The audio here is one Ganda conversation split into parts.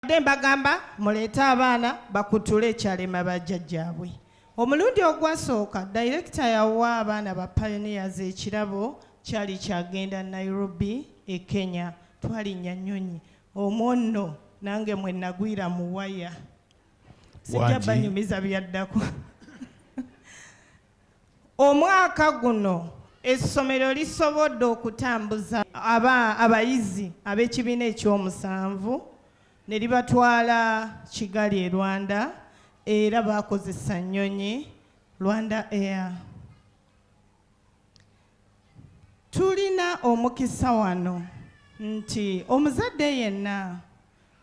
mbadde mbagamba muleete abaana bakutule ekyalema bajjajjaabwe omulundi ogwasooka dayirekita yawa abaana ba pioneers ekirabo kyali kyagenda nairobi e kenya twalinnya nnyonyi omwo nno nange mwe nagwira mu waya sijja banyumiza byaddako Omwaka guno essomero lisobodde okutambuza aba abayizi ab'ekibiina ekyomusanvu ne libatwala Kigali e Rwanda era baakozesa nnyonyi Rwanda Air. Tulina omukisa wano nti omuzadde yenna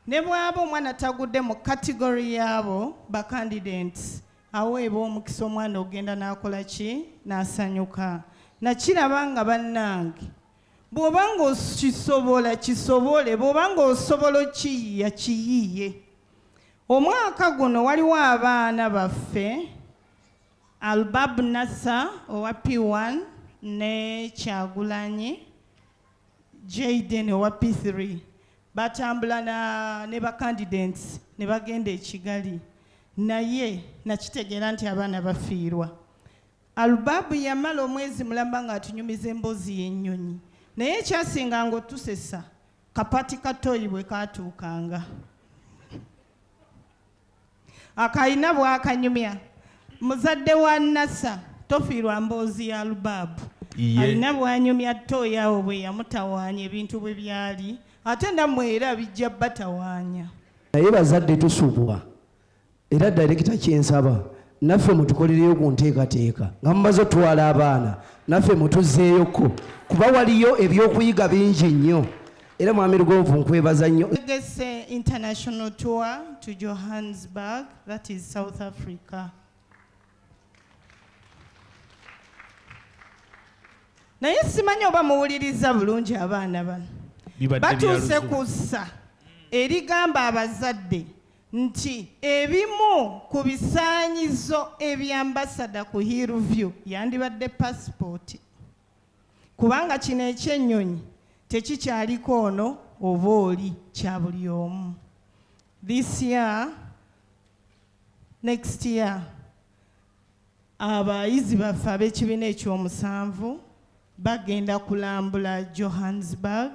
ne bw'aba omwana tagudde mu kategori y'abo bakandidenti aweebwa omukisa omwana ogenda n'akola ki n'asanyuka nakiraba nga bannange bw'oba ng'okisobola kisobole bw'oba ng'osobola okiyiya kiyiye omwaka guno waliwo abaana baffe Albab Nasser owa P1 ne Kyagulanyi Jayden owa P3 batambula na ne bakandidents ne bagenda e Kigali naye nakitegeera nti abaana bafiirwa. Albabu yamala omwezi mulamba ng'atunyumiza emboozi y'ennyonyi naye ekyasinga ng'otusesa kapati katoyi bwe kaatuukanga. akalina bwakanyumya muzadde wa nasa tofiirwa mboozi ya lubaabu alina bwanyumya toyawo bwe yamutawaanya ebintu bwe byali ate namwe era bijja batawaanya naye bazadde tusubwa era direkita kyensaba naffe mutukolereyo ku nteekateeka nga mumaze otwala abaana naffe mutuzeeyoko kuba waliyo ebyokuyiga bingi nnyo era mwami lugonvu nkwebaza nnyo tegese international tour to johannesburg that is south africa naye simanyi oba muwuliriza bulungi abaana bano batuuse ku ssa erigamba abazadde nti ebimu ku bisaanyizo ebyambasada ku hillview yandibadde pasipooti kubanga kino ekyennyonyi tekikyaliko ono oba oli kya buli omu this year next year abayizi baffe ab'ekibiina ekyomusanvu bagenda kulambula johannesburg